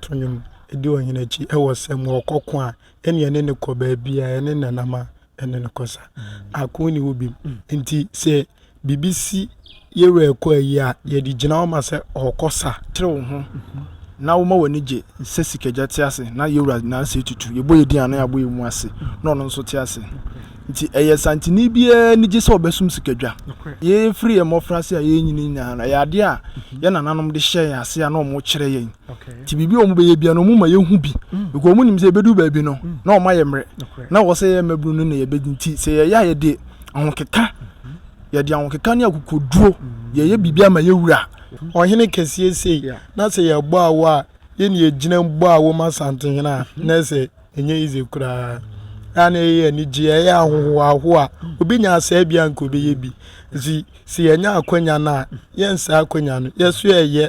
To nnwom di ɔhene akyi wɔ sɛ, ma ɔkɔ ko a, ɛnneɛ ɛne no kɔ baabi a ɛne nanam a ɛne no kɔ sa ako ni hɔ bi nti sɛ biribi si yɛwura ɛkɔ ayi a yɛde gyina ɔma sɛ ɔkɔ sa tere wo ho na woma w'ani gye sɛ sikagya te ase na yɛwura nansa tutu yɛbɔ yɛdi ano yɛabɔ yɛ mu ase na ɔno nso te ase nti ɛyɛ santini biara ni gye sɛ ɔbɛsom sikadwa yɛfiri yɛ mmɔfra ase a yɛnyini nyinaa no ɛyɛ adeɛ a yɛ nananom de hyɛ yɛn ase a na ɔmo kyerɛ yɛn nti biribi a wɔbɛyɛ bia no wɔma yɛhu bi mm. because wɔnim sɛ yɛbɛdu baabi no mm. na wɔma yɛ mmerɛ na wɔ sɛ yɛ mmabunu no na yɛbɛdi nti sɛ yɛyɛ a yɛde ahokeka mm-hmm. yɛde ahokeka ne akokoduro mm. yɛyɛ biribi ama yɛwura ɔhene kɛseɛ sei na sɛ yɛbɔ awo a yɛne yɛgyina bɔ awo ma asantehene a mm-hmm. na sɛ ɛnyɛ easy koraa ɛa na ɛyɛ anigye ɛyɛ ahohoaho a obi nya asɛe bia nka obɛyɛ bi nti sɛ yɛnya akwanya no a yɛnsaa akwanya no yɛso yɛyɛ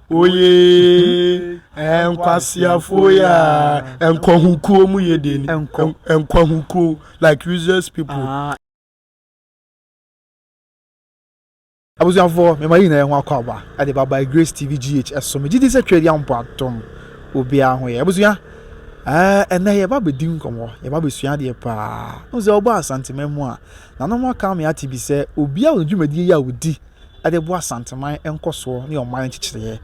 oyee nkwaseafoɔ yi a nkwahukuo mu yɛ deɛ ni nkwahukuo like useless people. Ah. abusuafoɔ mema yi nyinaa ho akɔ aba ɛde ba by grace tv gh ɛso megye di sɛ twɛdi ampo atom obiara ho yɛ abusua ɛnɛ yɛba bɛdi nkɔmmɔ yɛba bɛsua adeɛ paa wo sɛ wobɔ asantema mu a nanom aka me ate bi sɛ obiara wɔ dwumadie yi a wɔdi de boa Asanteman nkɔsoɔ ne ɔman nkyekyereɛ.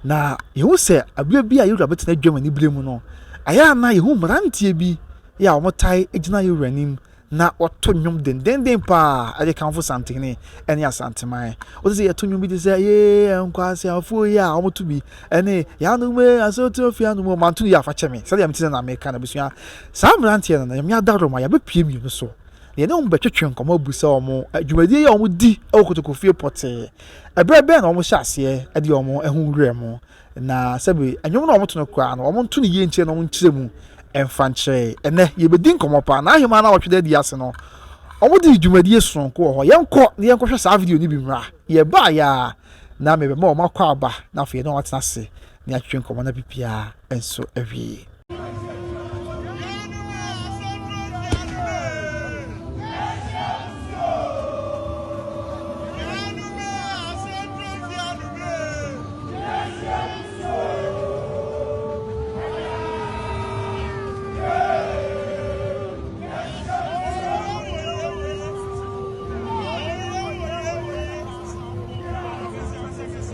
Na yɛhu sɛ aberɛ bi a yɛn wura bɛtena dwam aniberɛ mu no, ayɛ a na yɛhu mmeranteɛ bi yɛ a wɔtae gyina yɛn wura anim na wɔto nnwom dendenden paa de kamfo Santene ne Asanteman. Wote sɛ yɛto nnwom bi te sɛ yee nkwaseafoɔ yi a wɔto bi ne yɛanom ee asoto afie anom o manto no yie afa kyɛ me sɛdeɛ mete sɛ na meka no abusua saa mmeranteɛ no na nyame adaworo ma yɛabɛpue mmienu so yɛne wɔn bɛtwetwe nkɔmmɔ abisa wɔn dwumadie yi a wɔdi wɔ kotokofie pɔtee, ɛberɛ bɛn na wɔhyɛ aseɛ de wɔn ho werɛ mu, na sɛbe nnwom no a wɔto no koraa no, wɔnto no yie nkyerɛ na wɔnkyerɛ mu mfa nkyerɛ. Ɛnnɛ, yɛbɛdi nkɔmmɔ pa. N'ahemmaa no a wɔtwe da adi ase no, wɔde dwumadie sononko wɔ hɔ. Yɛnkɔ na yɛnkɔhwɛ saa video no bi mmra. Yɛbaeɛ a, na mebɛma wɔn akwaaba, na afei na wɔatena ase. Yɛatwetwe nkɔmmɔ no bere biara nso awie.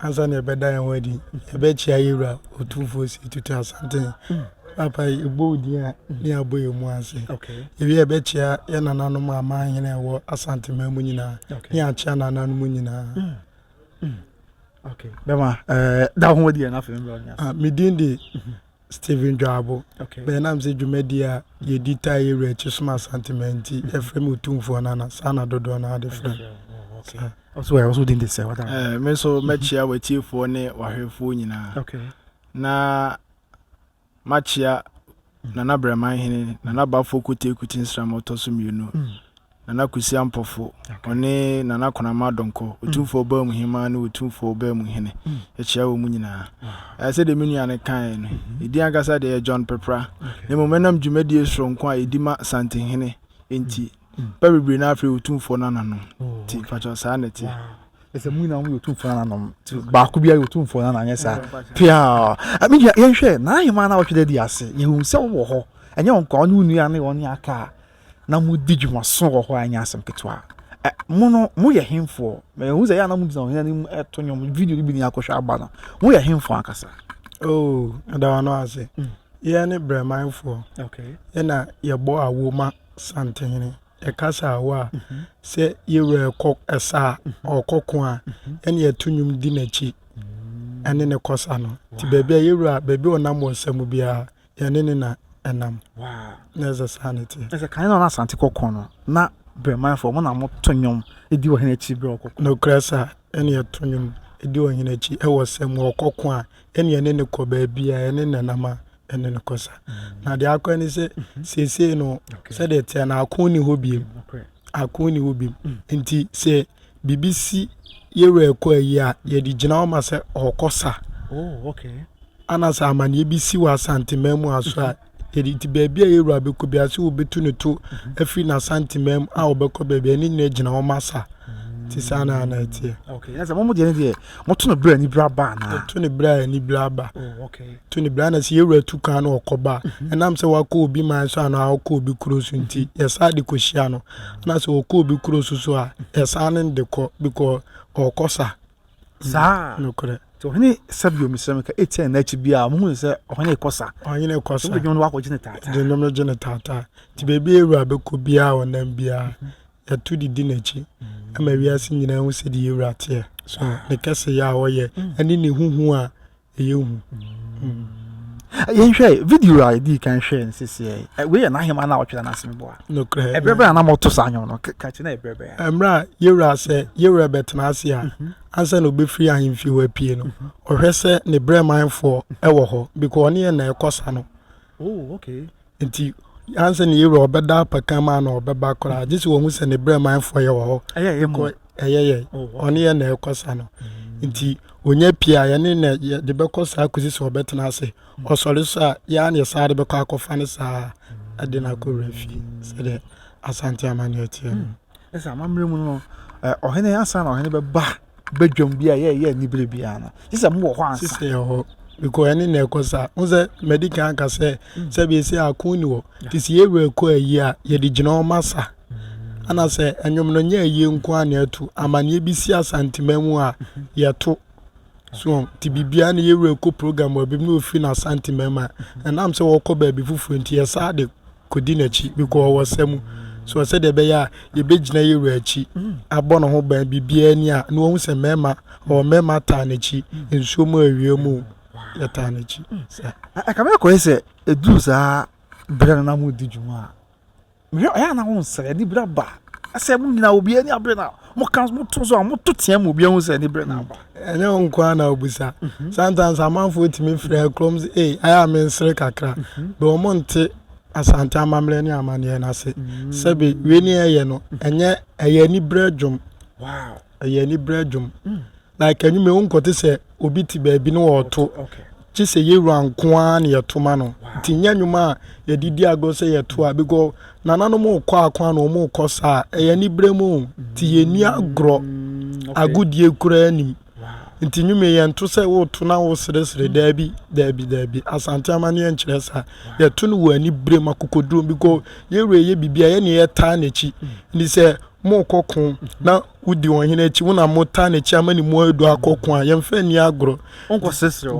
Ansa na yɛbɛda yɛn ho adi, yɛbɛkyia yɛn wura Otumfoɔ Osei Tutu Asante. Papa yi, yɛbɔ wo din a ne abɔ yɛn mu ase. Yɛwie a yɛbɛkyia yɛn nananom amanhene a ɛwɔ Asante man mu nyinaa ne akyia nananom nyinaa. Mm. Mm. Okay. Bɛma, eh, da ho adi yɛn afei mbra ɔnyɛ ase. Ah, me din de Stephen Dwabo, bɛyɛ na mesɛ dwumadie a yɛdi taa yɛ wura akyi som asante ma nti yɛfrɛ me otumfoɔ nana saa na dodoɔ no ade frɛ ɔso ɛ ɔso din de sɛ wata me nso mɛkyia watiefoɔ ne wahwɛfoɔ nyinaa na makyia nana brɛman hene nana bafoɔ kote kuti nsram ɔtɔ so mmienu Nana Kwesi Ampofo, ɔne Nana Konama Donkor, Otumfoɔ Ɔbaa mu Hemmaa ne Otumfoɔ Ɔbaa mu Hene, yɛkyia wɔn nyinaa. Ɛɛ, sɛdeɛ me nua no kaeɛ no, ne din ankasa deɛ yɛ John Peprah, na mmom ɛnam dwumadie soronko a yɛdi ma Santehene nti, nnipa bebree no ara frɛ yɛn Otumfoɔ Nananom. Nti, mpakyɛw, saa na ɛteɛ. Ɛsɛ mo nyinaa moyɛ Otumfoɔ Nananom, nti baako biara yɛ Otumfoɔ Nana, anyɛ saa? Piaa! Me nua, yɛnhwɛ Nana Hemmaa no a wɔtwe da di ase, yɛhu sɛ wowɔ hɔ, ɛnyɛ wo nkoa, wo ne wo nua ne wɔn aka a na mo di dwuma so wɔ hɔ a ɛnyɛ asɛm ketewa ɛ mo no mo yɛ henfoɔ mɛ ehu sɛ yɛ anam gyina ɔhene anim ɛto nwom video no bi ni akɔhwɛ aba no mo yɛ henfoɔ ankasa. oo ɛda wa no ase mm. yɛn ne brɛmanfoɔ okay. ɛna yɛbɔ awo ma santehene yɛkasa awo a mhm. sɛ yɛwura ɛkɔ ɛsa a mhm. ɔkɔko a mhm. ɛne yɛto nwom di n'akyi ɛne ne kɔsa no nti baabi a yɛwura baabi ɔnam wɔ nsa mu biara Yɛne no na ɛnam. Wow. Na ɛsɛ saa na ɛteɛ. Ɛsɛ kan na Asante kɔkɔɔ no na Bremanfoɔ mo na moto nnwom di ɔhene akyi berɛ ɔkɔkɔ. Nokorɛ sa ɛne yɛto nnwom di ɔhene akyi ɛwɔ sɛ mu ɔkɔko a ɛne yɛne no kɔ baabiara yɛne no nam a ɛne no kɔ sa na deɛ akɔ ne sɛ seesei no sɛdeɛ ɛteɛ no ako nni hɔ biom ako nni hɔ biom nti sɛ biribi si yɛwura ɛkɔ ayi a yɛde gyina hɔ ma sɛ ɔkɔ sa oh, okay. ana sɛ amanneɛ bi si wɔ asanteman mu aso a yɛde nti baabi a yɛwura bɛkɔ bi ase wɔbɛtu ne to afiri n'asanteman mu a wɔbɛkɔ baabi ɛne nyina gyina hɔ ma sa nti saa na ana ɛteɛ okay. yes, Moto no berɛ a anibere aba anaa? Yɛto no berɛ a anibere aba. Oh, okay. To no berɛ a na sɛ yɛwura tu kan na ɔkɔ ba. Mhm. Ɛnam sɛ wakɔ obi man so anaa ɔkɔ obi kuro so nti, mhm. yɛsan de kɔhyia no. Mhm. Na sɛ ɔkɔ obi kuro so so a, yɛsan ne de kɔ because ɔkɔ sa. Saa. Nokorɛ. So ɔhene sɛ bio mesrɛ me ka ɛtia na akyi biara mohu sɛ ɔhene kɔ sa ɔhene kɔ sa dwom no wakɔgye ne taataa dwom no gye ne taataa nti baabi awura bɛkɔ biara ɔnam biara Yɛto de di n'akyi ma wiase nyinaa hu sɛdeɛ yɛn wura teɛ, ne kɛseyɛ a ɔyɛ, ne ne ho hu a ɛyɛ hu. Mm. yɛnhwɛ video a yɛdi kan hwɛ no sɛsiɛ wei yɛ n'ahema no a ɔtwerɛ no asɛm boa nokorɛ ɛberɛ bɛn a na mɔto saa nwom no ka kyerɛ na ɛberɛ bɛn a mmerɛ a yɛwura sɛ yɛwura bɛtena ase a mhm. ansa na ɔbɛfiri ahemfie hɔ apie no mhm. ɔhwɛ sɛ ne brɛmanfoɔ wɔ hɔ because ɔne yɛ na ɛkɔ sa no Oh, okay. Nti ansɛ ne yɛwura ɔbɛda apɛka mu ana ɔbɛba koraa gye sɛ wɔhu sɛ ne berɛ manfoɔ yɛ wɔ hɔ ɛyɛ yɛ oh, ɔne yɛ na ɛkɔ sa no mm. nti ɔnya pie a yɛne na yɛde bɛkɔ saa kɔsi sɛ ɔbɛtena ase mm. ɔsɔre so a yɛa ne saa de bɛkɔ akɔfa no saa ɛde no akɔwura fie sɛdeɛ asante ama no ɛteɛ no mm. Ɛsɛ amammerɛ mu no, ɔhene ansa na ɔhene bɛba badwam bi a yɛ yɛ ni bere biara no. Sɛ sɛ mo wɔ hɔ ansa. Sɛ yɛ hɔ. Because ɛne na ɛkɔ saa. Wo sɛ mɛdi kan aka sɛ mm. sɛ bi sɛ ako ni hɔ. Ti sɛ yɛ wura kɔ ayi a yɛde gyina wɔn asa. Mm. Ana sɛ ɛnwom no nyɛ ayie nko a na ɛto amaneɛ bi si asanteman mu a mm-hmm. yɛto so ti biribiara na yɛwura kɔ program wɔ bi na ofiri na asanteman mu a mm-hmm. ɛnam sɛ wɔkɔ baabi foforɔ nti yɛ saa de kɔdi n'akyi bikɔɔ wɔ ɔsa mu soɔ sɛdeɛ ɛbɛyɛ a yɛbɛgyina yɛ wura akyi abɔ ne ho ban biribiara ni a na wahu sɛ mmarima ɔwɔ mmarima ataa n'akyi nsuo mu awia mu yɛtaa n'akyi saa. Ɛkame kɔyɛ sɛ ɛduru saa berɛ no na modi dwuma a mehwɛ ɔyɛ a na wonsrɛ ne bira ba sɛ mo nyinaa obiara ni abere no a Moka, moto so a, moto teɛ ma obi ahu sɛ ne berɛ no aba. Ɛnyɛ wo nko ara na wobisa. Mhm. Sometimes amanfoɔ tumi frɛ kurom sɛ, ei, ayɛ a mensere kakra. Mhm. Bɛ wɔn nte Asante amammerɛ ne amanneɛ no ase. Mhm. Sɛbe wei ne ɛyɛ no, ɛnyɛ ɛyɛ aniberɛ dwom. Wow. Ɛyɛ aniberɛ dwom. Mm. Like anwumere wo nkɔte sɛ obi te baabi na ɔreto gye sɛ yɛwura nko ara na yɛto ma no nti nyɛ nnwom a yɛde di agorɔ sɛ yɛto a bigɔ nananom rekɔ ako a na wɔn rekɔ saa ɛyɛ anibere mu nti yɛnni agorɔ agodie koraa nim nti nnwom yɛnto sɛ woto na woseresere daabi daabi daabi asante amanneɛ nkyerɛ saa yɛto no wɔ anibere mu akokoduro bigɔ yɛwura yɛ biribi a yɛne yɛtaa n'akyi nti sɛ morekɔ ko na Wodi ɔhene akyi, wo na motaa n'akyi ama ne mu adu akɔ ko a, yɛmfa nni agorɔ.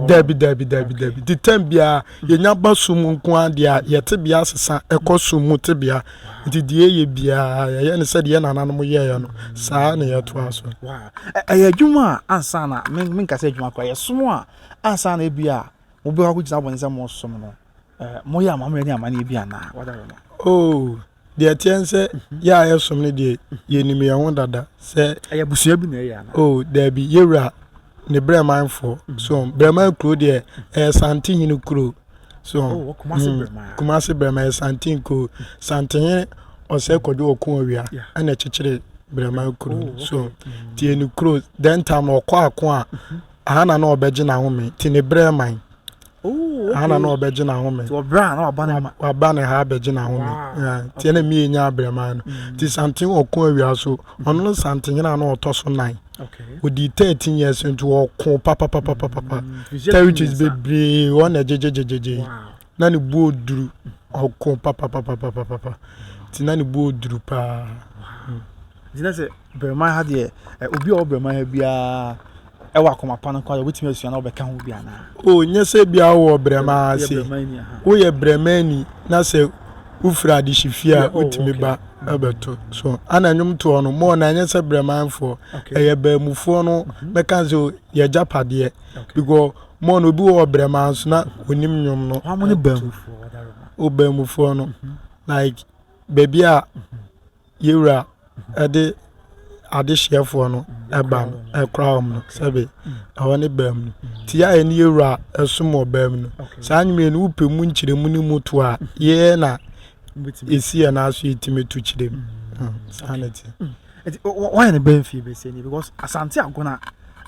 Dabi, dabi, dabi, dabi. Nti tɛm biara, yɛnya ba sum mu nko ara deɛ a, yɛ tebea asesa, ɛkɔ sum mu tebea. Nti deɛ yɛyɛ biara, yɛyɛ no sɛdeɛ yɛn nananom yɛeɛ no, saa ara na yɛtoa so. Ɛyɛ adwuma a ansa na, menka sɛ adwuma koraa, ɛyɛ som a ansa na ebi a mobɛkɔ akɔgyina abɔnten sɛ moresom no, moyɛ amammerɛ ne amanneɛ bi anaa? Oh. Deɛ ɛteɛ ne sɛ, yɛ a yɛsom no deɛ, yɛnim yɛn ho dada sɛ. Ɛyɛ abusua bi na ɛyɛ anaa? Oh, daabi, yɛ wura ne Brɛmanfoɔ. So, Brɛman kuro deɛ, ɛyɛ Santehene kuro. So, oh, Kumase mm, Brɛman. Kumase Brɛman, ɛyɛ Santen kuro. Santehene ɔsɛ kɔdwo ɔko awia, ɛna ɛkyekyere Brɛman kuro. Oh, so, mm. tie ne kuro, then time ɔkɔ ako a, mm-hmm. aha na na ɔbɛgye n'ahome, te ne Brɛman. Aha na na ɔbɛgye n'ahome. Nti ɔbrɛ a na waba ne ma. Waba ne ha abɛgye n'ahome. Nti ɛna mmie nya abrɛmaa no. Nti Santen ɔko awia so. Ɔno ne Santenhene a na ɔtɔ so nan. Ɔdii 13 years nti ɔko papapapapapa. Territories bebree hɔ na gyegyegyegyegye. Na ne buo duru. Ɔko papapapapapa. Nti na ne buo duru paa. Nti na sɛ Braman ha deɛ, ɛ, obi a ɔwɔ Braman ha biara wɔ akoma pa no koraa deɛ wobɛtumi asua na wobɛka ho bi anaa? O, nyɛ sɛ ebia wowɔ Braman ha Woyɛ se. Bramani aha. Woyɛ Bramani na sɛ wofiri adehyefie a, Yeah, oh, wotumi okay. ba bɛto. So, ana nnwomtoɔ no, mɔɔ no anyɛ sɛ Bramanfoɔ. Okay. Ɛyɛ Baamufoɔ no bɛka sɛ o, yɛagyapadeɛ. Okay. Because mɔɔ no, obi wɔ Braman so na ɔnim nnwom no. Wɔn ne baamufoɔ, ɔdarima. O, Baamufoɔ no. Like, baabi a Yɛ Wura de adehyeɛfoɔ no ba no ɛkora wɔn no sɛbe ɛhɔ ne baa mu no ti a ɛne Yɛ Wura ɛsom wɔ baa mu no saa nwumire no wopɛ mu nkyerɛmu no mu to a yɛ na ɛsi yɛ n'aso yɛtumi to kyerɛ mu saa na ɛte. Wayɛ ne bɛn fie bɛsɛ ni because asante agona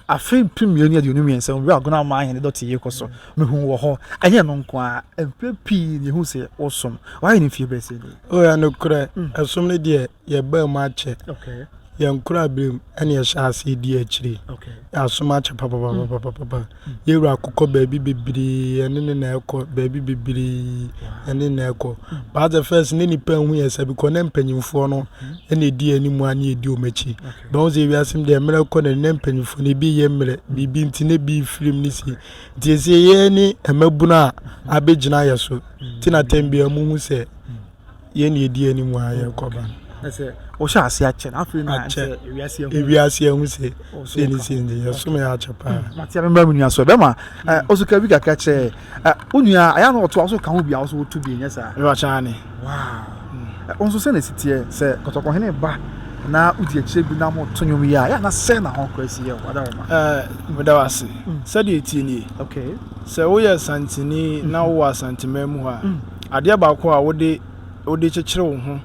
Afe mpem mmienu ne aduonu mmiɛnsa mu, bere a Agunaman Hene dɔte rekɔ so no, mihuu wɔ hɔ. Ɛnyɛ ɛno nko ara, mfe pii ni yehuu sɛ wɔsom. Wɔayɛ no mfe bɛsɛ ni. O, ɛyɛ nokorɛ, ɛsom no deɛ, yɛbaa mu akyɛ. Yɛn koraberem na yɛhyɛɛ aseɛ dii akyire. Yɛasom akyɛ papapapapapa. Yɛn Wura kɔ baabi bebree, yɛne no na ɛrekɔ, baabi bebree, yɛne no na ɛrekɔ. But at the first, na nnipa nhu yɛn sɛ, because na mpanyimfoɔ no na ɛdi yɛn anim a na yɛdi wɔn akyi. Mahu sɛ wiase mu deɛ mmerɛ rekɔ n'ani na mpanyinfoɔ no ebi yɛ mmerɛ biribi nti na ebi firi mu ne si nti esie yɛ ne mmabunu a abɛgyina yɛ so ti na tɛm bi a mu hu sɛ yɛ ne edi anim a yɛ kɔba. ɛsɛ wɔhyɛ ase akyɛ na afei na akyɛ ewiase ɛho ewiase ɛho sɛ sɛ ne si nti yɛ som yɛ akyɛ paa. mate abɛma mu nua so ɛbɛma ɔso ka bi kakra kyerɛ Ɛ wo nua a, ɛyɛ a na ɔtoa so ka ho bi a wo nso woto bi, ɛnyɛ saa? Ɛwɔ akyɛ aane. Wow! Ɛ wo nso sɛn na ɛsi teɛ sɛ Kɔtɔkɔhene ba na wodi akyire bi na moto nnwom yi a, ɛyɛ a na sɛn na ho kora si yɛ wo? Adaoma. Ɛ meda wo ase. Sɛdeɛ ɛteɛ nie, Okay. sɛ woyɛ Asanteni na wowɔ Asanteman mu hɔ a, adeɛ baako a wode wode kyekyere wo ho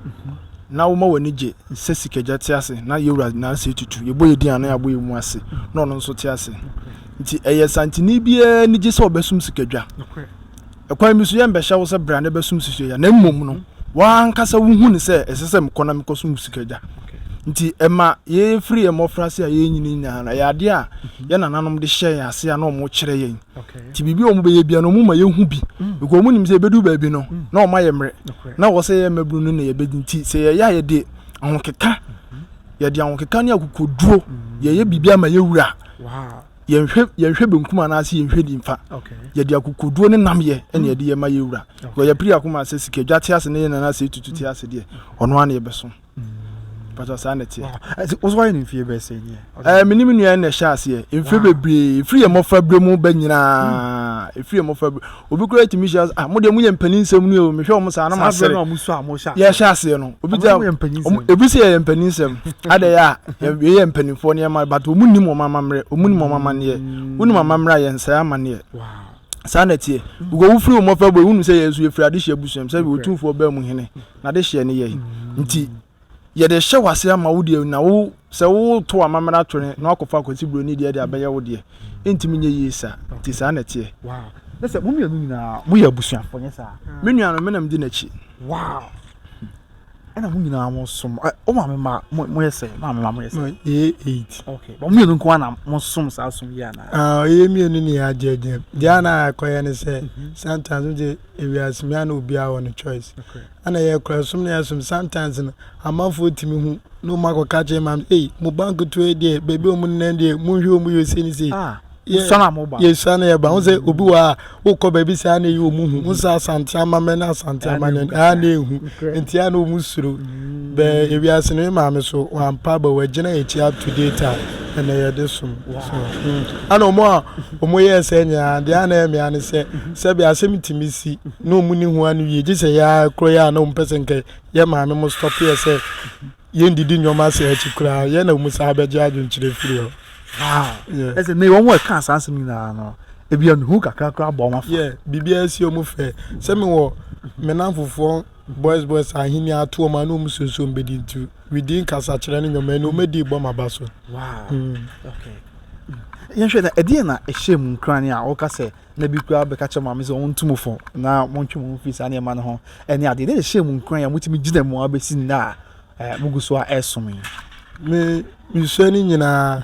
na woma w'ani gye sɛ Sikagya te ase na Yɛwura Nasa Etutu, yɛbɔ yɛn din a na yɛabɔ yɛn mu ase na ɔno nso te ase. Nti ɛyɛ Santini biara anigye sɛ ɔbɛsom sikadwa. Ɛkwan bi so, yɛmmɛhyɛ wo sɛ bra na bɛsom sikadwa, na mmom no, w'ankasa wuhu no sɛ ɛsɛ sɛ mekɔ na mekɔsom sikadwa. Nti ɛma yɛfiri yɛn mmɔfraase a yɛrenyini nyinaa no, ɛyɛ adeɛ a yɛn nananom de hyɛɛ yɛn ase a na wɔkyerɛ yɛn. Nti biribi a wɔbɛyɛ biara no, wɔma yɛhu bi. Because wɔnim sɛ ɛbɛdu baabi no, na wɔma yɛ mmerɛ. Na ɛwɔ sɛ yɛn mmabunu no na yɛbɛdi. Nti sɛ yɛyɛ a yɛde ahokeka, yɛde ahokeka ne akokoduro, yɛyɛ biribi ama yɛn wura. Wow. yɛnhwɛ yɛnhwɛ benkum anaasɛ yɛnhwɛ nimfa yɛde akokoduo ne nam yɛ ɛna yɛde yɛ ma yɛ wura wɔ yɛ piri akoma sɛ sika dwa te ase ne yɛ nana sɛ etutu te ase deɛ ɔno ara na yɛbɛsom pàtó saa na ɛteɛ. ɛti wosɔ ayɛ ne mfie bɛyɛ sɛ nie. ɛɛ mi ni mi nua na ɛhyɛ aseɛ mfie bebree efiri yɛ mmɔfra bere mu bɛ nyinaa efiri yɛ mmɔfra bere. Obi koraa tumi hyia sɛ, ah, mo deɛ moyɛ mpanin nsɛm ni o, mehwɛ wɔn saa na masere. Saa berɛ no a mosu a mohyɛ aseɛ. Yɛhyɛ aseɛ no. Obi gyina, ebi sɛ yɛyɛ mpanin nsɛm, ada yɛ a, yɛyɛ mpanimfoɔ nneɛma, but wɔn nim wɔn amammerɛ, wɔn nim wɔn amanneɛ. Wonim amammerɛ a, yɛnsɛe amanneɛ. Saa na ɛteɛ. Because wofiri wo mmɔfra bɔ, wonim sɛ yɛn nso yɛfiri adehyeɛ abusua mu, sɛdeɛ Otumfoɔ baa mu hene, n'adehyeɛ ne yɛn. Nti. Yɛde rehyɛ wo ase ama wo deɛ na wo sɛ woto amammerɛ ato ne na wakɔfa akwasi buro ne deɛ de abɛyɛ wo deɛ ɛntumi nyɛ yie saa nti saa na ɛteɛ. Wow. Ne sɛ mo mmienu nyinaa moyɛ abusuafoɔ nyɛ saa. Me nua no menam di n'akyi. Wow. Ɛna mo nyinaa mo som wo maame ma moyɛ sɛ maame ma moyɛ sɛ. Yɛ eight. Okay. Mo mmienu nko na mo som saa som yi ana. Ah, yɛ mmienu ne yɛ agye agye. Deɛ na akɔyɛ ne sɛ sometimes mo de ewiase mmea na obiara wɔ ne choice. Okay. Ana yɛ kura som ne asom sometimes no amanfoɔ tumi hu na wɔn akɔ ka kyerɛ maame ei mo ba nketewa yi deɛ baabi a wɔn nenam deɛ mo nhwɛ wɔn yɛ sei ne sei ah, yɛ yɛsua na yɛba ho sɛ obi wɔ a wokɔ baabi saa na eyi wɔn hu wɔn sɛ asante amamɛ na asante amane ɛha na ehu nti a na wɔn suro bɛɛ ewiase no maame so wɔn ampa ba wɔagyina akyi ato date a ɛna yɛde som so hmm. ana wɔn a Wɔyɛɛ saa nyinaa no, deɛ na ɛyɛ me ara ne sɛ, sɛbe asɛm yi tumi si na wɔn ni ho ano yie, gye sɛ yɛ ara kura yɛ a na wɔn pɛ sɛ nka yɛ maame mo stop yɛ sɛ yɛ ndidi nneɛma ase akyi koraa, yɛ na wɔn saa bɛgye adwenkyerɛ firi hɔ. Wow! Yeah. Ɛsɛ ne wɔn a ɛka saa asɛm nyinaa no, ebi a nuhu kakra koraa bɔ wɔn afa. Yeah, biribiara si wɔn fɛ. Sɛ me wɔ me nanfofoɔ Boys boys ahenni atoɔ ma no mu sonsom bɛdi nti within kasakyerɛ ne nnwoma ɛne ɔmɛdi bɔ ma ba so. Wow. Mm. Okay. yɛnhwɛ na ɛdeɛ na ɛhyɛ mu nkrane a woka sɛ na bi koraa bɛka kyerɛ maame sɛ ɔntu mo fo na montwe mo ho firi saa nneɛma no ho ɛne adeɛ deɛ na ɛhyɛ mu nkrane a motumi gyina mu a bɛsi nnɛ a mogu so a ɛsom yi me mesua no nyinaa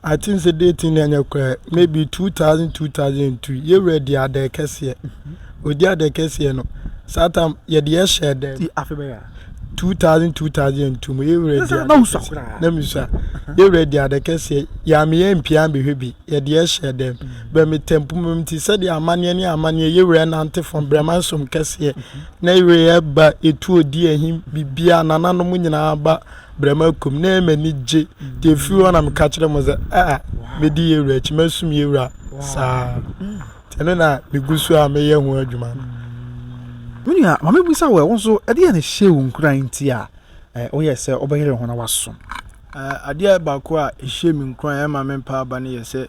I think sɛ dee tin na ɛnyɛ koraa maybe two thousand two thousand and two yɛwura di adɛɛ kɛseɛ odi adɛɛ kɛseɛ no saa tam yɛde ɛhyɛ dɛm ti afe bɛyɛ two thousand two thousand and two mu yɛwura di adɛɛ kɛseɛ na misua yɛwura di adɛɛ kɛseɛ yaame yɛ mpia mbɛhwɛ bi yɛde ɛhyɛ dɛm bɛ me tɛmpu mu ti sɛdeɛ amaneɛ ne amaneɛ yɛwura nante fam brɛma nsom kɛseɛ na yɛwura yɛ ba etu odi ahim bibia nananom nyinaa ba Brɛma kum na ɛma ani gye. Deɛ ɛfiri hɔ na meka kyerɛ mo sɛ, a mɛdi yɛn wura akyi, mɛsom yɛn wura saa. Nti ɛno na megu so a meyɛ ho adwuma no. Me nua, ma mebisa wo ɛ, wo nso ɛdeɛn na ɛhyɛɛ wo nkuran nti a woyɛɛ sɛ wobɛyere wo ho na woasom? Adeɛ baako a ɛhyɛɛ me nkuran a ɛma mempaa aba no yɛ sɛ,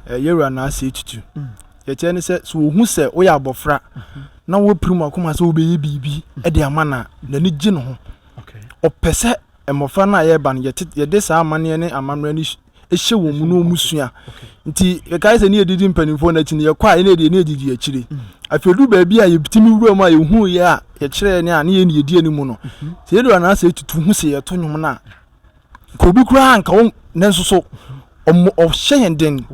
yɛn wura n'asɛe tutu. Deɛ ɛkyerɛ ne sɛ, sɛ ɔhu sɛ woyɛ abɔfra na woapirim w'akoma sɛ wobɛyɛ biribi de ama no a, n'ani gye ne ho. Ɔpɛ sɛ mmɔfra no a yɛreba no yɛde saa amanneɛ ne amammerɛ no hyɛ wɔn mu na wɔn sua. Nti yɛkae sɛ ne yɛdidi mpanimfoɔ no akyi no yɛkɔ a ɛne yɛde ne yɛdidi akyire. Afei du baabi a yɛtumi wura mu a yɛhu yɛ a yɛkyerɛ ne a ne yɛn ne yɛdi anim no. Sɛ yɛdura no asɛ tutu ho sɛ yɛto nnwom no a. Nka obi koraa nka wɔn nanso so ɔmo ɔhyɛ yɛn den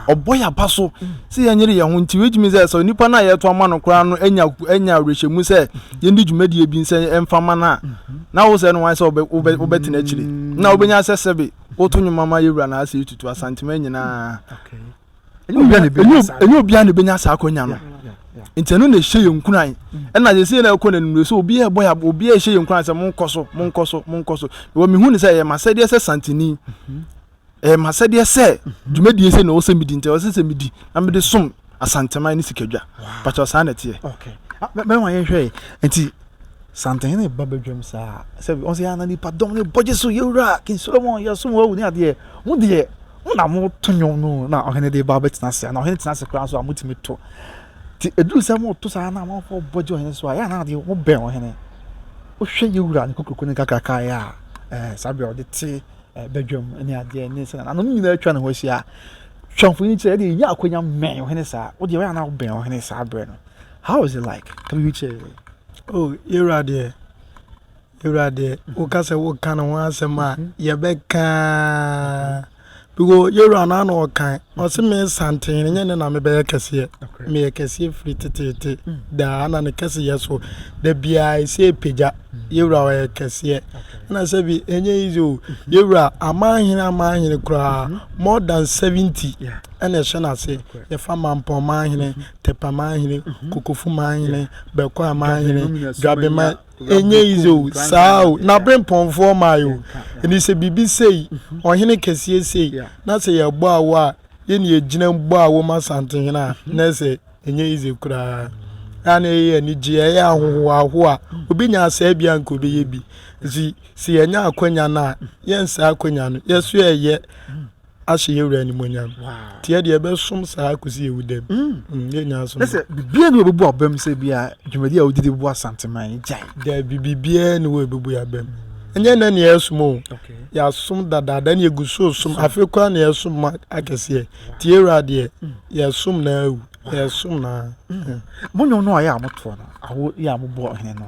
ɔbɔ yɛn aba so mm. sɛ yɛn nyere yɛn ho nti wei gyimi sɛ sɛ nipa no a yɛto ama no koraa no anya anya awerɛhyɛmu sɛ yɛn di dwumadie bi nsɛ ɛnfa ma no a mm-hmm. na wo sɛ no wɔn sɛ ɔbɛ ɔbɛ ɔbɛtena akyire mm. na ɔbɛnya sɛ sɛbe woto nnwuma ma yɛwura na asɛ etutu asantema nyinaa. ɛnyɛ obiara na ebenya saa akwanya no nti ɛno na ɛhyɛ yɛn nkuran ɛna yɛ sɛ yɛn ɛkɔ na nnuro so obiara ɛbɔ yɛ obiara ɛhyɛ yɛn nkuran sɛ mo nkɔ so mo nkɔ so mo nkɔ so wɔ mehu ne sɛ ɛyɛ ma sɛdeɛ sɛ santini ɛyɛ ma sɛdeɛ sɛ dwumadie sɛ na ɔwɔ sɛ medi nti ɔwɔ sɛ sɛ medi na mede som asanteman ne sikadwa pàtó saa na ɛteɛ mɛma yɛn hwɛ nti Santehene ba badwam saa a, sɛ ɔn sɛ yɛ ana nipa dɔm no bɔ gye so, Yewura, King Solomon, yɛsom wo awu ne adeɛ. Mo deɛ, mo na mo to nnwom no o, na ɔhene de ba ɔbɛtena ase a, na ɔhene tena ase koraa nso a, motumi to. Nti ɛduru sɛ moto saa na amanfoɔ bɔ gye ɔhene so a, yɛ ana adeɛ mo bɛn ɔhene. Wohwɛ Yewura ne kokroko ne nkakrakaa yɛ a, eh, saa berɛ a ɔde te eh, badwam ne adeɛ ne sɛnea n'ano no nyinaa atwa ne ho ahyia a, twa mfonini kyerɛ, ɛdeɛ yɛnya akwanya mmɛn ɔhene saa. Wo deɛ, yɛ ana wobɛn ɔhene saa berɛ no. How is it like to be with you? Oh, Ira deɛ, Ira deɛ, woka sɛ woka ne ho asɛm a, yɛbɛkaa. Because Ira na na ɔkan, ɔse me santen no nyɛ ne na mebɛyɛ kɛseɛ. Meyɛ kɛseɛ firi teteete daa na ne kɛseyɛ so. Da biara ɛsɛ pagya, Ira ɔyɛ kɛseɛ. Na sɛ bi ɛnyɛ easy o, Ira amanhene amanhene koraa, more than 70 ɛna ɛhyɛ no ase. Yɛfa mampɔn manhene, Tepa manhene, Kokofu manhene, Bɛkɔa manhene, Dwabe man ɛnyɛ yize o saa o na bere mpɔnfoɔ mae o ɛni sɛ biribi sei ɔhene kɛseɛ sei na sɛ yɛbɔ awo a yɛni yɛgyina mu bɔ awo ma Asantehene a na ɛsɛ ɛnyɛ yize koraa a na ɛyɛ anigye ɛyɛ ahohoahoa obi nya asaa bi a nka obɛyɛ bi nti sɛ yɛnya akwanya no a yɛnsaa akwanya no yɛso yɛyɛ Ahyɛ yɛn Wura animuonyam. Nti yɛ deɛ yɛbɛsom saa ara kɔsi yɛn wudam. Mm, yɛn nyinaa som. Sɛ biribiara ni wɔbɛbu abam sɛ bia dwumadi a wogye de bu Asanteman gyae. Dabi, biribiara ni wɔ ɛbɛbu yɛn abam. Ɛnyɛ nnɛ na yɛsom o, yɛasom dadaada na yɛgu so resom. Afei koraa na yɛsom ma akɛseɛ. Nti yɛn Wura deɛ, yɛsom no ara wu, yɛsom no ara. Mo nnwom no a yɛ a motoɔ no, awo yɛ a mobɔ Ɔhene no,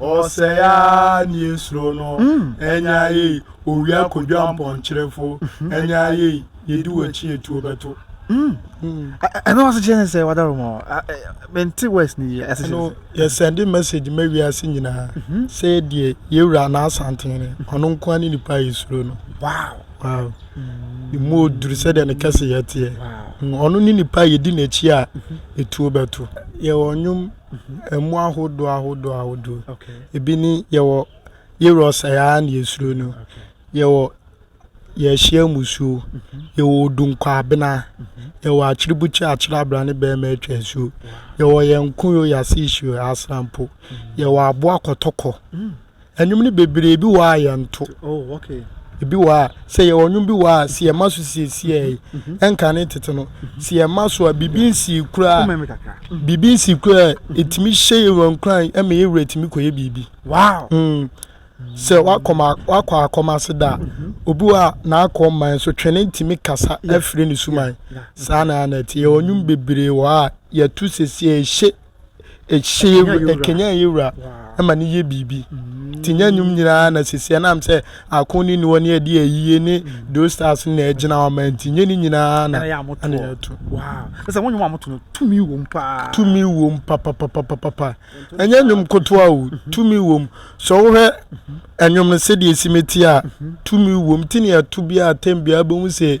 Ɔsɛe ara ne yɛn suro no. Ɛnyɛ ayɛyi, owia kodwa mpɔnkyerefo. Ɛnyɛ ayɛyi, yɛdi w'akyi etuo bɛto. Ɛno ase kyerɛ ne sɛ wadaro ma mente west ne yie ase kyerɛ sɛ yɛsɛnde message ma wiase nyinaa sɛ deɛ yɛwura na asantene ɔno nkoa ne nipa a yɛsuro no wow wow ne mu oduru sɛdeɛ ne kɛse yɛteɛ ɔno ne nipa a yɛdi n'akyi a ɛtuo bɛto yɛwɔ nnwom Mmoa ahodoɔ ahodoɔ ahodoɔ. Okay. Ebi ni yɛwɔ yerɔs ɛyɛ ara na yɛsuro no. Okay. Yɛwɔ yɛhyia musuo. Mm-hmm. Yɛwɔ odunkwaabena. Mm-hmm. Yɛwɔ akyeribukyi akyerɛ abira ne bɛrima atwa asuo. Yɛwɔ yɛn nkoyo yɛase ihyio asrampo. Mm-hmm. Yɛwɔ aboa kɔtɔkɔ. Mm. Ɛnwom no bebree ebi wɔ a yɛnto. Oh, okay. Ebi wɔ a sɛ yɛwɔ nnwom bi wɔ a sɛ yɛma so siesie yi mhm. ɛnka ne tete no mhm. sɛ yɛma so a biribi nsii koraa mhm. biribi nsii koraa ɛtumi hyɛ yɛ wura nkuran ɛma yɛ wura tumi kɔyɛ biribi. Wow. Mm. sɛ wakɔ akɔm ase da a obi wɔ a n'akɔ mman so twene ntumi kasa afiri ne suman saa na ɛte yɛwɔ nnwom bebree wɔ a yɛto siesie ɛhyɛ Ɛhyɛ yɛ wura, ɛkanyan yɛ wura ma no yɛ biribi. Nti nyɛ nnwom nyinaa na sisi ɛnam sɛ ako ne niwɔ ne ɛde ayie ne those stars na ɛgyina hɔ ma nti nyɛ ne nyinaa na ɛna yɛto. Sɛ wɔn nnwom a wɔto no tumi wom paa. Tumi wom papapapapapa. Ɛnyɛ nnwom kotoa o, tumi wom. Sɛ wohwɛ nnwom no sɛdeɛ ɛsi mɛti a, tumi wom. Nti ne yɛto biara tɛm biara bɛhu sɛ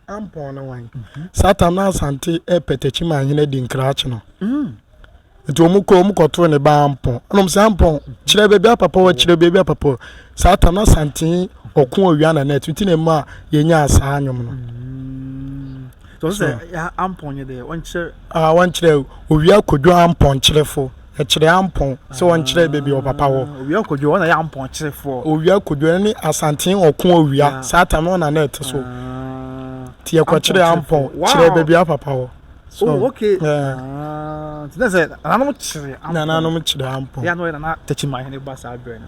Ampɔn ne wan? Saa tam na Asante repɛtɛkyi ma ahene adi nkrakye no. Nti wɔn kɔ wɔn kɔtoo ne ba Ampɔn. Ɛna wɔn sɛ Ampɔn kyerɛ baabi a papa wɔ kyerɛ baabi a papa wɔ. Saa tam na Asante ɔko owia na net nti na mu a yɛnyaa saa nnwom no. Tɔ sɛ Ampɔn nyɛ dɛ wɔnkyerɛ. Ah wɔnkyerɛ owia kodwo Ampɔn kyerɛfo. Ɛkyerɛ Ampɔn, sɛ wɔnkyerɛ baabi a ɔpapa wɔ. Owia Kodwo, ɔno na ɛyɛ Ampɔn kyerefoɔ. Owia Kodwo, ɛno ne Asantee ɔko owia, saa tam no ɔno na na ɛte so. Nti yɛkɔkyerɛɛ Ampɔn, kyerɛɛ baabi a ɔpapa wɔ. Oh, ok. Nti na sɛ nananom kyere Ampɔn. Nananom kyere Ampɔn. Ɛyɛ a na ɔyɛ Nana Takyimaahene ba saa berɛ no.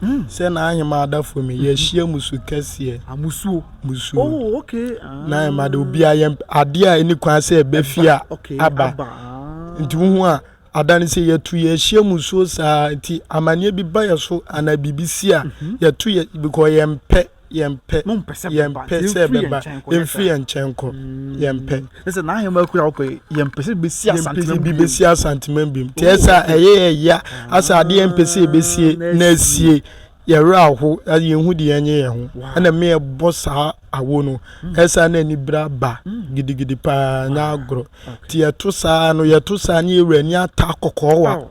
Hmm, sɛ na ahema adafo mi yɛhyia musu kɛseɛ. Amusuo. Ah, musuo. Oh, okay. Ah. Na ahema de obi a yɛn adeɛ a ɛni kwan sɛ ɛbɛfi a aba. Nti wohu a ada no sɛ yɛtu yɛhyia musuo saa nti amanneɛ bi ba yɛ so anaa biribi si a mhm. yɛtu yɛ because yɛmpɛ. yɛmpɛ, mompɛ sɛ bɛba, yɛmpɛ nti sɛ yɛmfiri yɛn bɛba, nkyɛn nkɔ, yɛmpɛ. yɛmfiri yɛn nkyɛn nkɔ, yɛmpɛ. Sɛ sɛ n'ahemmaa kura wɔ pɛ, yɛmpɛ sɛ bɛsi Yɛmpɛ sɛ asantemam bi bio. bɛsi asantemam biom. Nti ɛsɛ a ɛyɛ yɛ ya, asɛ adeɛ yɛmpɛ sɛ yɛbɛsie Ah, na asie. Yɛ werɛ aho, a yɛnhu deɛ ɛnyɛ yɛn ho. Wow. Ɛna me ɛbɔ saa awo no, ɛsɛ a na anibere aba gidigidi paa, ɛnyɛ agorɔ. Nti yɛto saa no, yɛto saa ne yɛ wura ani ata kɔkɔɔ wa. Aw.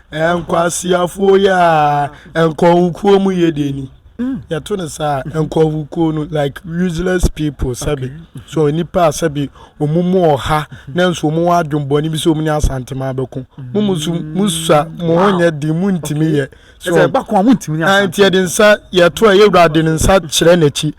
Nkwaseafoɔ yi a nkɔhokuo mu yɛ deɛ ni yɛto no saa nkɔhokuo no like useless people sɛbi so nipa a sɛbi wɔn mu ɔha nanso wɔn wɔ adwembɔne bi sɛ wɔn ne asantema abɛko mo mu nso mo sa mo ho nyɛ den mo ntumi yɛ so ɛsɛ ɛbako a mo ntumi ne asantema nti yɛde nsa yɛto a yɛwura de ne nsa kyerɛ n'akyi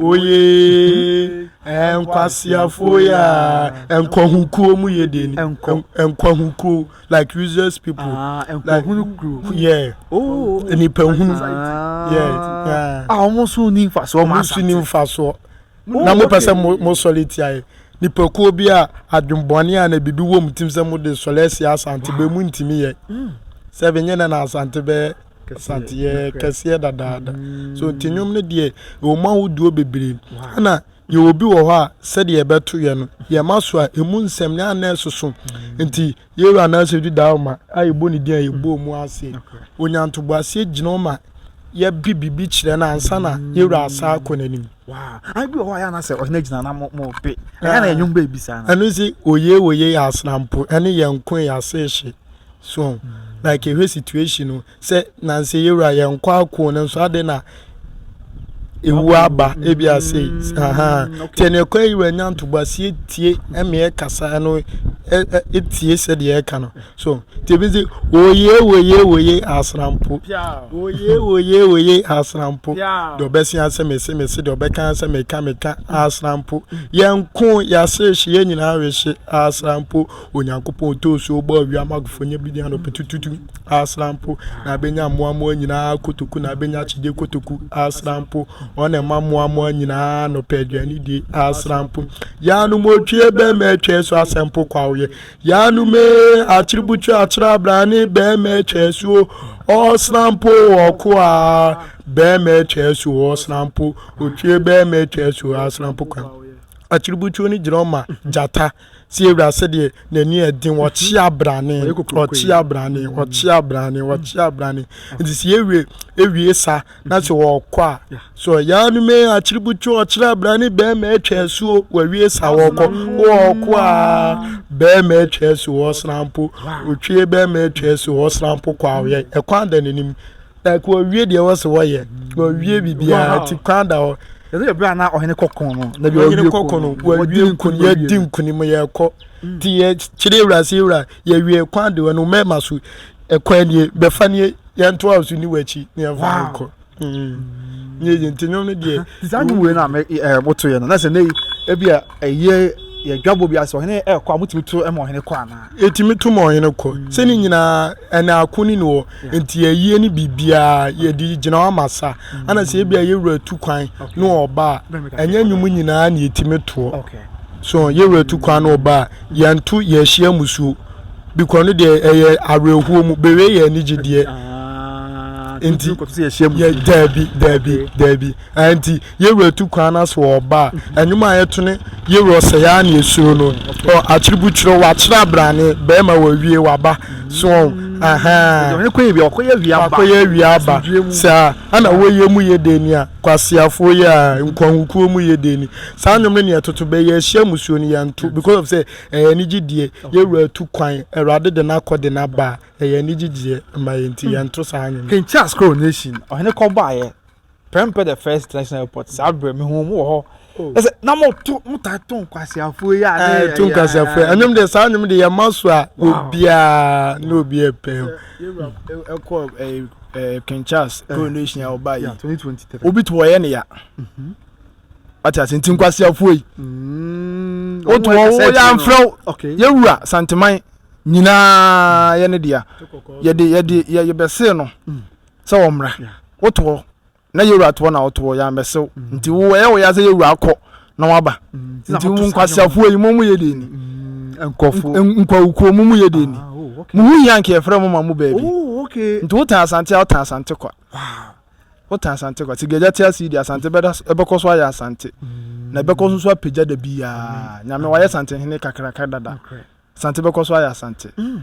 oyee nkwaseafoɔ ya nkwahukuo mu yɛ deɛ ni nkwahukuo like useless people ah, like yeah oh. nipa hunu ah. yeah a ah, wɔn so ni nfasoɔ wɔn so ni nfasoɔ na mo pɛ sɛ mo mo sɔre tia yɛ nipakuo bi a adwembɔne a na bibi wɔ mu tim sɛ mo de sɔre asi asante bɛ mu ntumi yɛ hmm. sɛ bɛ nyɛ na na asante bɛyɛ. Kɛseɛ kɛseɛ dadaada so nti nnwom no deɛ ɛwɔ mu ahodoɔ bebree ɛna yɛwɔ bi wɔ hɔ a sɛdeɛ ɛbɛto yɛ no yɛma so a ɛmu nsɛm ne anɛ soso nti yɛwura anaasɛ di daa ma a yɛbɔ ne din a yɛbɔ mu ase onyantobo aseɛ gyina ma yɛbi biribi kyerɛ no ansa na yɛwura asa akɔ n'anim ɛno si oye oye yɛ asrampo ɛne yɛn nko yɛ ase hye So like ehwɛ situation no sɛ nansi yewura yɛn nkɔ ako no nso ade na ewu aba ebi ase ahan tɛ na ɛkɔ yewura nya ntoboa si etie ɛmɛ ɛkasa ɛno etie sɛ deɛ ɛka no so tɛbi nse oye oye oye asrampo oye oye oye asrampo deɛ ɔbɛsi asɛ mɛsi mɛsi deɛ ɔbɛka asɛ mɛka mɛka asrampo yɛn ko yɛase hye yɛn nyinaa rehye asrampo. Onyankopɔn too nsuo bɔɔ ewiem ma agofoɔ nya bi nnuane ɔpetu tutu asra mpo na abɛnya mmoa mmoa nyinaa kotoku na abɛnya akyegye kotoku asra mpo wɔn na ɛma mmoa mmoa nyinaa nɔpɛ aduane die asra mpo yaanom otwie bɛrima atwa so asɛ mpo kwawoyɛ yaanom ee akyere butu akyerɛ abrane bɛrima atwa so ɔsra mpo ɔko a bɛrima atwa so ɔsra mpo otwie bɛrima atwa so asra mpo kwa akyere butuo no gyina ɔma gyata Tie wura sɛdeɛ n'ani yɛ den ɔkye abrane ɔkye abrane ɔkye abrane ɔkye abrane nti sɛ yɛwie ewie sa na sɛ wɔkɔ a so yaa no mɛ akyiributwo ɔkyerɛ abrane bɛrima atwa asuo wɔawie sa wɔkɔ wɔkɔ a bɛrima atwa asuo ɔsena mpo otwie bɛrima atwa asuo ɔsena mpo kɔ awoyɛ ɛkwan da n'anim like wɔwie deɛ wɔ so wɔyɛ wɔwie biribiara nti kwan da hɔ ɛsɛ ɛberɛ a na ɔhene kɔkɔn no na bi ɔhene kɔkɔn no wɔwie nkuni yɛdi nkuni mu yɛkɔ nti yɛkyerɛ awura sɛ awura yɛwie kwan da hɔ no mɛma so ɛkwan nie bɛfa nie yɛnto a so ni wɔakyi ne yɛmfa no kɔ mm. yɛyɛ nti nnwom no deɛ saa nnwom wei no a motoeɛ no na sɛ nɛ ebi a Ɛyɛ yɛ dwabɔ bi ase ɔhene ɛkɔ a motumi to ma ɔhene kɔ anaa. Yɛtumi to ma ɔhene kɔ sɛ ne nyinaa ɛna ako ne ne hɔ nti ayie ne biribiaa yɛde gyina hɔ ama sa ana sɛ ebi a yɛwura tu kwan ne ɔba a ɛnyɛ nnwom nyinaa ne yɛtumi toɔ so yɛwura tu kwan ne ɔba a yɛnto yɛahyia musuo bikɔ no deɛ ɛyɛ awerɛhoɔ mu bewe yɛ anigye deɛ nti yɛ daabi daabi daabi nti Yɛwura tu kwan no ase wɔ ɔba a ɛnwom a yɛto ne Yɛwura ɔsɛ yɛa ne ɛsuro no ɔ akyere bu kyerɛ wakyere abrane bɛɛma wawie waba so ɔn ahaa wakɔyɛ awia aba saa ana wɔyɛ mu yɛ dɛ ni a kwaseafoɔ yɛ a nkwahukuo mu yɛ dɛ ni saa nwom no neɛ toto bɛ yɛ ahyia musuo no yɛnto because of sɛ ɛyɛ anigye deɛ Yɛwura tu kwan awurade de no akɔ de no aba a ɛyɛ anigye deɛ ma yɛnti yɛnto saa nwom King Charles Coronation ɔhene kɔbɔayɛ Prɛmpɛ the first international airport saa berɛ me hu mo wɔ hɔ ɛsɛ na mo to mo ta to nkwasiafoɔ yi a ne eh, to nkwasiafoɔ ɛnum de saa ɛnum de yɛ ma so a obiara ne obiara pɛn ɛkɔ ɛɛ ɛɛ King Charles eh. coronation a ɔba yi obi to ɔyɛ ne ya mhm. ati ase nti nkwasiafoɔ yi mm. o to ɔwɔ yɛ anfrɛw yɛ wura santeman nyinaa yɛ ne deɛ yɛ de yɛ de yɛ yɛ bɛsee no. Mm. sɛ wɔmmra. Woto hɔ na yɛwura to hɔ na woto hɔ, yɛammɛsew. Nti wo ɛyɛ wo ya sɛ yɛwura akɔ na waba. Nti mo nkwaseafoɔ yi, mo mo yɛ deɛ ni? Nkurɔfoɔ. Nkwawukuo, mo mo yɛ deɛ ni? Mo ho hia nka yɛfrɛ mo ma mo baabi. Nti wotan Asante a, wotan Asante kwa. Wotan Asante kwa. Sɛ Gagya te ase yi deɛ, Asante bɛda so, ɛbɛkɔ so ayɛ Asante. Na ɛbɛkɔ so nso apagya da biara. Nyame, wayɛ Asantehene kakraka dada. Asante bɛkɔ so ayɛ Asante. Mm.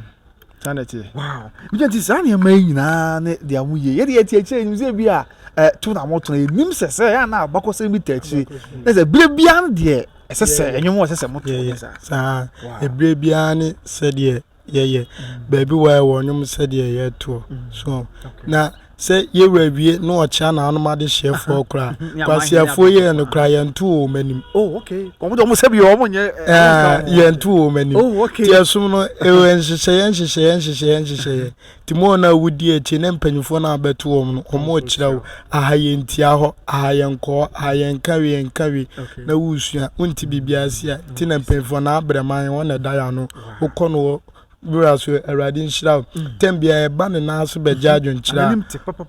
Saa na ɛteɛ. Wow. Bigya nti saa nneɛma yi nyinaa ne deɛ mo yie. Yɛde yɛte akyire anim sɛ bi a eh, to na motona yɛnim sɛ sɛ ɛyɛ na abakɔsɛm bi ta akyire. Na sɛ berɛ biara no deɛ ɛsɛ sɛ ɛnwom a ɛsɛ sɛ moto ne saa. Saa. Ɛberɛ biara ne sɛdeɛ yɛyɛ. Mm. Baabi wɔ ɛwɔ nnwom sɛdeɛ yɛtoɔ. Mm. So na Sɛ yɛwura awie na ɔkyea naanom adehyeɛfoɔ koraa kwaseafoɔ yi ɛno koraa yɛnto wɔn anim. Oh okay. Wɔn de wɔn sɛ bi wɔn nyɛ. Ɛɛ yɛnto wɔn anim. Oh okay. Ti ɛsom no ɛwɔ nhyehyɛeɛ nhyehyɛeɛ nhyehyɛeɛ nhyehyɛeɛ. Ti mu wɔn a wodi akyi ne mpanyinfoɔ na abɛto wɔn no wɔn rekyerɛ wo aha yɛntia hɔ aha yɛnkɔ hɔ aha yɛnka wei yɛnka wei na wosua wonti biribiara si a ti na mpanyinfoɔ na abrɛman wɔn na ɛda yɛ ano wokɔ no wɔ Bra so awurade nhyira wo. Tɛm biara ɛba ne nan so bɛgye adwenkyerɛ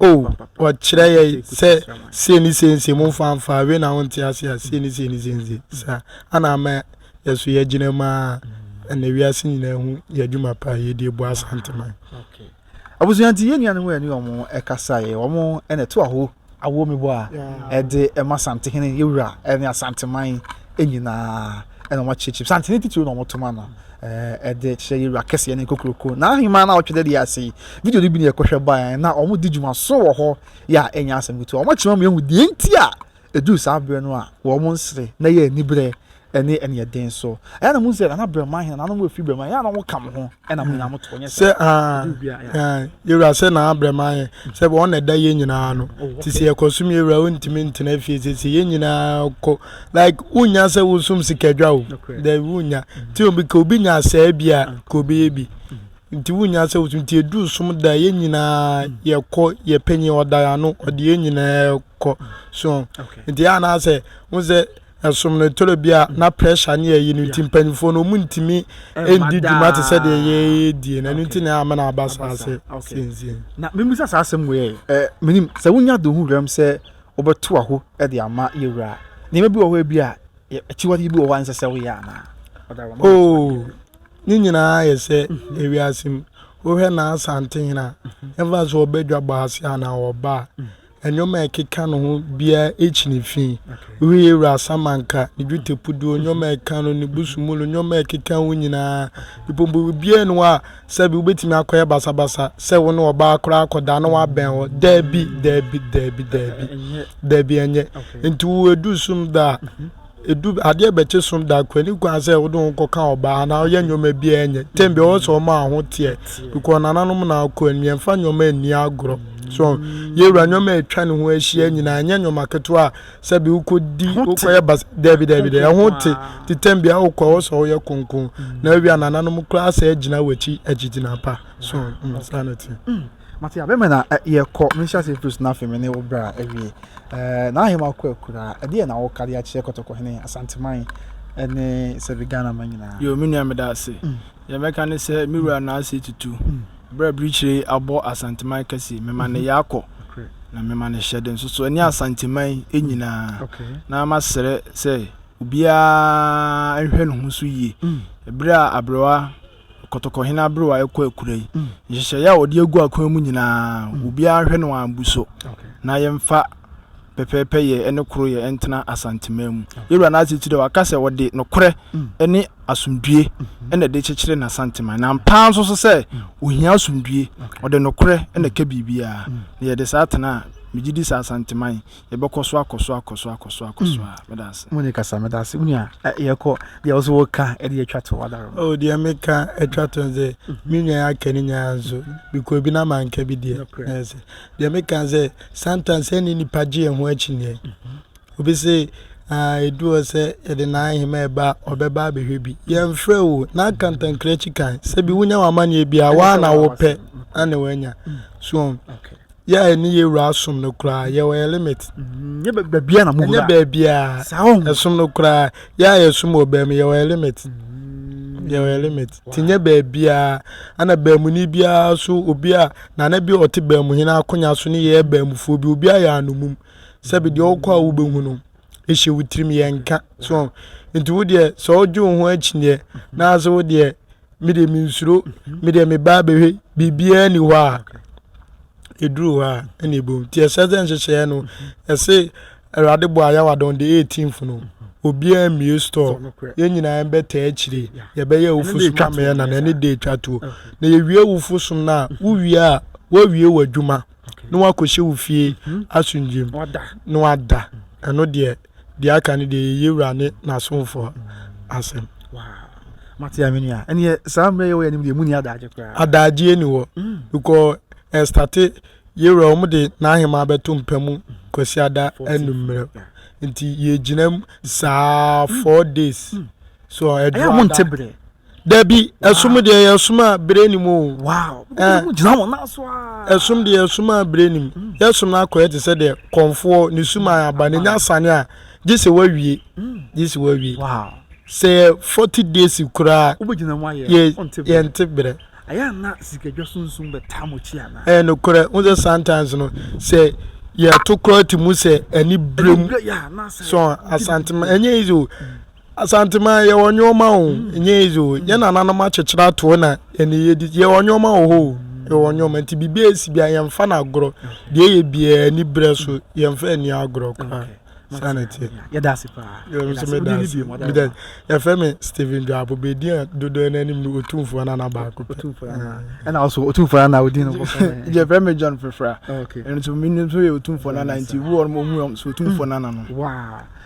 a o ɔkyerɛ yɛ sɛ sei ne sei nse mo mfa mfa awe na wonte ase a sei ne sei ne sei nse saa ana ama yɛ so yɛgyina mu a ɛna wiase nyinaa hu yɛ adwuma pa a yɛdi ɛbɔ asanteman. Okay. Abusua nti yɛn nuanom a yɛne wɔn kasaeɛ, wɔn na ɛto aho awoɔ me bɔ a ɛde ɛma Santehene yɛwura ne Asanteman nyinaa ɛna wɔn akyerɛkyerɛ Santene titiri na wɔn to ma no ɛde kyerɛ yɛwura kɛseɛ ne kokuroko na ahema na ɔtwe dɛdeɛ ase video no bi ne ɛkɔhwɛ baeɛ na wɔn di dwuma so wɔ hɔ yɛ a ɛnyɛ asɛm ketewa wɔn akyerɛ mu yɛhu deɛ nti a Eduu saa bere no a wɔn nsere na ɛyɛ anibere ne aniɛden so. Ɛyɛ a na muhu sɛ Nana Brɛma, Henanom a wɔafi Brɛma, ɛyɛ a na wɔka mo ho na mo nyinaa moto, ɛnyɛ saa? Sɛ, Aane, Aane, Yewura, sɛ Nana Brɛma yɛ, sɛ wɔn na ɛda yɛn nyinaa ano, nti sɛ yɛkɔsom Yewura a wontumi ntena fie seesei, yɛn nyinaa kɔ, like, wonnya sɛ wosom sikadwa o, dabi, wonnya, nti obi, ka obi nya saa bi a, ka obi yɛ bi, nti wonnya sɛ wosom, nti eduu som da a yɛn nyinaa yɛkɔ, yɛn panyin ɔda yɛn ano, ɔde yɛn nyinaa kɔ. kɔ so nti a na sɛ ho sɛ ɛsom no toro bi a na pressure ne ɛyi no nti mpanyinfoɔ no ɔmu ntumi ndi dwuma te sɛ deɛ yɛdie na ɛno nti na ama na aba saa sɛ sɛnsie na memusa saa asɛm wei ɛ menim sɛ wonya de ho werɛm sɛ wobɛto aho de ama yɛwura nneɛma bi wɔ hɔ bi a akyiwade bi wɔ hɔ a nsɛ sɛ woyɛ anaa oh ne nyinaa yɛ sɛ mhm. ewiase mu wohwɛ na asante hena mhm. ɛmfa sɛ ɔbɛdwa bɔ ase anaa ɔba a mhm. nneɛma a ɛkeka ne ho biara kyi ne fi. Wohwehwɛ wura asamanka, ne dwetɛpuduo, nneɛma a ɛka no, ne busumulu, nneɛma a ɛkeka ho nyinaa. Mpo biribiara nni hɔ a sɛbe wobɛtumi akɔyɛ basabasa sɛ wo ne ɔbaa koraa akɔda na woabɛn hɔ. Dabi, dabi, dabi, dabi. Dabi, ɛnyɛ. Nti wo aduru sum da a, Edu adeɛ bɛkye som da kɔ ɛni kwan sɛ wode ho kɔ ka ɔbaa anaa ɔyɛ nneɛma bi a ɛnyɛ tɛm bi ɔwɔ sɛ ɔma aho teɛ bikɔ nananom na akɔ anim yɛmfa nneɛma ɛni agorɔ so yɛwura nneɛma ɛtwa ne ho ahyia nyinaa ɛnyɛ nneɛma ketewa a sɛ bi wokɔ di wokɔ yɛ bas dɛbi dɛbi dɛ ɛho te te tɛm bi a wokɔ ɔwɔ sɛ ɔyɛ konkon na awia nananom koraa sɛ agyina wakyi agyigyina pa so saa na te. Mate abɛ mena yɛ kɔ me nhyɛase firi so na afei me ne wo bra awie. Ɛɛ na ahema kɔ akuraa ɛdeɛ na wo ka de akyerɛ kɔtɔkɔ hene asanteman ɛne sɛbi Ghana ma nyinaa. Yoo me nua meda ase. Deɛ mɛka ne sɛ me wura na ase tutu berɛ birikyire yi abɔ asanteman kɛse me ma ne yɛ akɔ na me ma ne hyɛde nso so ɛne asanteman nyinaa na ma srɛ sɛ obiara nhwɛ ne ho so yie ɛberɛ a abrewa Kɔtɔkɔhene aberewa rekɔ akura yi, nhyehyɛeɛ a wɔde agu akwan mu nyinaa, mm. obiara hwɛ no ambu so na yɛmfa pɛpɛɛpɛ yɛ ɛne koro yɛ ɛntena asanteman mu yɛwura no asekyerɛ waka sɛ wɔde nokorɛ ɛne mm. asomdue mm-hmm. ɛna ɛde kyekyere n'asanteman na mpaa nso so sɛ ohia asomdue ɔde nokorɛ ɛna ɛka biribiara na yɛde saa tena a megye di sɛ asanteman Yɛbɛkɔ so akɔ so akɔ so akɔ so akɔ so a mm. meda ase. Mo ne kasa meda ase wo nua yɛkɔ deɛ ɔso wɔka ɛde atwa to wadaro. O oh, deɛ meka atwa to sɛ mm-hmm. me nua aka ne nyinaa nso bikɔ bi na manka bi deɛ ɛsɛ deɛ meka sɛ sometimes sɛ ne nipa gye yɛn ho akyinnyeɛ mm-hmm. obi sɛ ɛdu ah, hɔ sɛ yɛde n'ahema ɛba ɔbɛba abɛhwɛ bi yɛmfrɛ o na akantankrankyi kan sɛ bi wonya w'amanneɛ bi a woa na wopɛ ane woanya mm. so yɛ a ɛne yɛ wura som no koraa yɛwɔ yɛ limit nyɛ baabia na moɛnyɛ baabia ɛsom no koraa yɛ a yɛsom wɔ baa mu yɛwɔ yɛ limit yɛwɔ yɛ limit nti nyɛ baabia ana baamuni biara so obi a nana bi a ɔte baamu hene akonya so ne yɛyɛ baamufoɔ bi obi ayɛ anomum sɛbi deɛ ɔkɔ a wobɛhu no hyɛ wo tirim yɛ nka so nti wo deɛ sɛ ɔdwe wo ho akyi deɛ na ase wo deɛ me deɛ mensuro me deɛ meba abɛhwɛ biribiara ni hɔ a ɛduru hɔ a ɛna ɛbom nti ɛsɛ sɛ nhyehyɛeɛ no ɛse awurade bɔ ayɛwadɔn de 18th no obiara mmie store yɛn nyinaa bɛtaa akyire yɛbɛyɛ awofo som twamɛɛ na na ɛne date atwo na yɛwie awofo som no a wowie a woawie w'adwuma na wakɔhyɛ wo fie asomdwoeɛ mu na wada ɛno deɛ deɛ aka no deɛ yɛ yɛwura ne n'asomfoɔ asɛm mate a menua ɛneɛ saa mmerɛ yɛwɔ yɛnim deɛ mu ni adagye koraa adagyeɛ ni hɔ mm. because ɛstate yɛwura wɔn de n'ahema bɛto mpa mu kwasi ada anummerɛ nti yɛgyina mu saa mm. four days mm. so ɛduru ada dabi ɛsom deɛ yɛ som a bere nim o ɛsom deɛ yɛ som a bere nim mm. yɛ som no akɔyɛ te sɛ deɛ kɔnfoɔ ne sum a aba ne nya asane a gye sɛ wawie mm. gye sɛ wawie sɛ yɛ forty days koraa yɛ yɛ nte berɛ ɛyɛ ana sikadwa sunsun bɛ taa mo kyi ana ɛyɛ no korɛ n sɛ sometimes no sɛ yɛto korɔ ti mu sɛ ɛni bere mu sɔn asantuma ɛnyɛ easy o. Mm. Asanteman yɛwɔ nnoɔma o, ɛnyɛ easy o, yɛn nananom akyekyere ato hɔ na ɛne yɛdi, yɛwɔ nnoɔma wɔ hɔ o, yɛwɔ nnoɔma nti biribi a ɛsi bia yɛmfa no agorɔ, deɛ ɛyɛ biara ani berɛ so yɛmfa ani agorɔ koraa. Saa na ɛteɛ. Yɛda ase paa. Yɛfrɛ me Stephen Dwapo, bɛdi a dodoɔ no anim no Otumfoɔ no ana baako pɛ. Ɛna ɔso Otumfoɔ no ana wodin no. Yɛfrɛ me John Frefra, ɛno nso menim nso yɛ Otumfoɔ no ana nti woɔ no mo ɔmu so Otumfoɔ no ana no.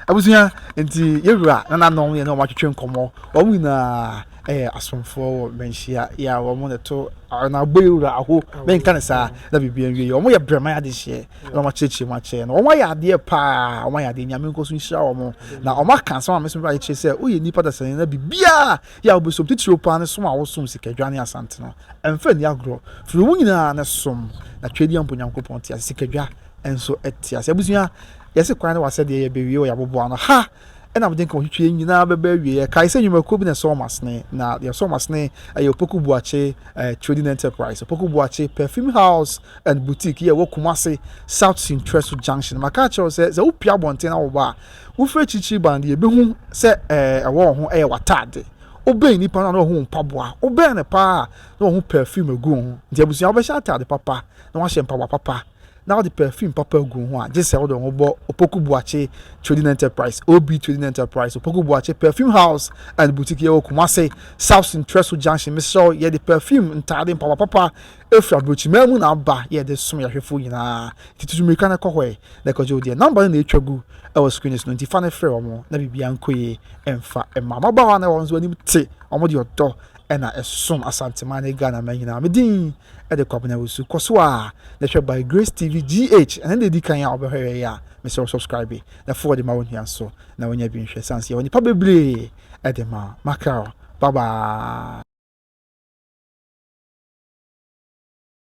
Abusua nti yɛ wura nananom yɛne wɔn atwetwe nkɔmmɔ. Wɔn nyinaa yɛ asomfoɔ wɔ manhyia yɛ a wɔn na ɛto na abɔ yɛ wura aho na nka ne saa na biribi nwie yɛ. Wɔn yɛ brɛman adehyeɛ na wɔn akyerɛkyerɛ mu akyɛ no. Wɔn ayɛ adeɛ paa, wɔn ayɛ adeɛ nyame nkɔ so nhyira wɔn. Na wɔn aka asɛm a me nso mebɛba akyekyere sɛ woyɛ nnipa dasani na biribiara yɛ a wobɛsom titiriw paa ne som a wosom sikadwa ne asante no ɛmfa nni agorɔ. Firi wɔn nyinaa ne som na twedeɛ mpo Nyankopɔn te ase sikadwa nso te ase. Abusua, yɛse kwan ne w'asɛdeɛ yɛbɛwie wɔ yɛaboboa no ha ɛna mede nka wɔtwitwi yɛn nyinaa bɛbɛ awie yɛkae sɛ nnwumakuo bi na ɛsɔ wɔn asene na deɛ ɛsɔ wɔn asene ɛyɛ Opoku Buakye eh, Trading Enterprise Opoku Buakye Perfume House and Boutique yɛ wɔ Kumase South Sintreso Junction maka akyerɛw sɛ sɛ wopia abɔnten na wɔba a wofiri akyirikyiri ba no deɛ ɛbɛhu sɛ eh, ɛwɔ wɔn ho ɛyɛ w'ataade wobɛn nipa no na wahu mpaboa wobɛn no paa na wahu perfume agu ho nti abusua wobɛhyɛ ataade papa na wahyɛ mpaboa papa na wode perfume papa gu wo ho a, gye sɛ wode wo ho bɔ Opoku Boakye Trading Enterprise, OB Trading Enterprise, Opoku Boakye Perfume House and Boutique, yɛwɔ Kumase, South Ntrɛso Junction, mesrɛ wo, yɛde perfume, ntaade, mpaboa papa firi aburokyimaa mu na aba, yɛ yɛde som yɛn ahwɛfoɔ nyinaa, nti tutu mmirika na kɔ hɔ ɛ, na kɔgye wo deɛ. Number no na ɛretwa gu wɔ screen no so no, nti fa no frɛ wɔn na biribiara nkɔ yie mfa mma mmabaawa no a wɔn nso anim te, wɔn de ɔdɔ na ɛsom Asanteman ne Ghanaman nyinaa. Me din. de Kwabena Wusu. Kɔ so ara na hwɛ By Grace TV GH. Ɛno na edi kan a wobɛhwɛ yɛn a, mesrɛ wo subscribe na fa ɔde ma wo nua nso na wanya bi nhwɛ ɛsiane sɛ yɛwɔ nnepa bebree de ma. Maka o. Bye bye.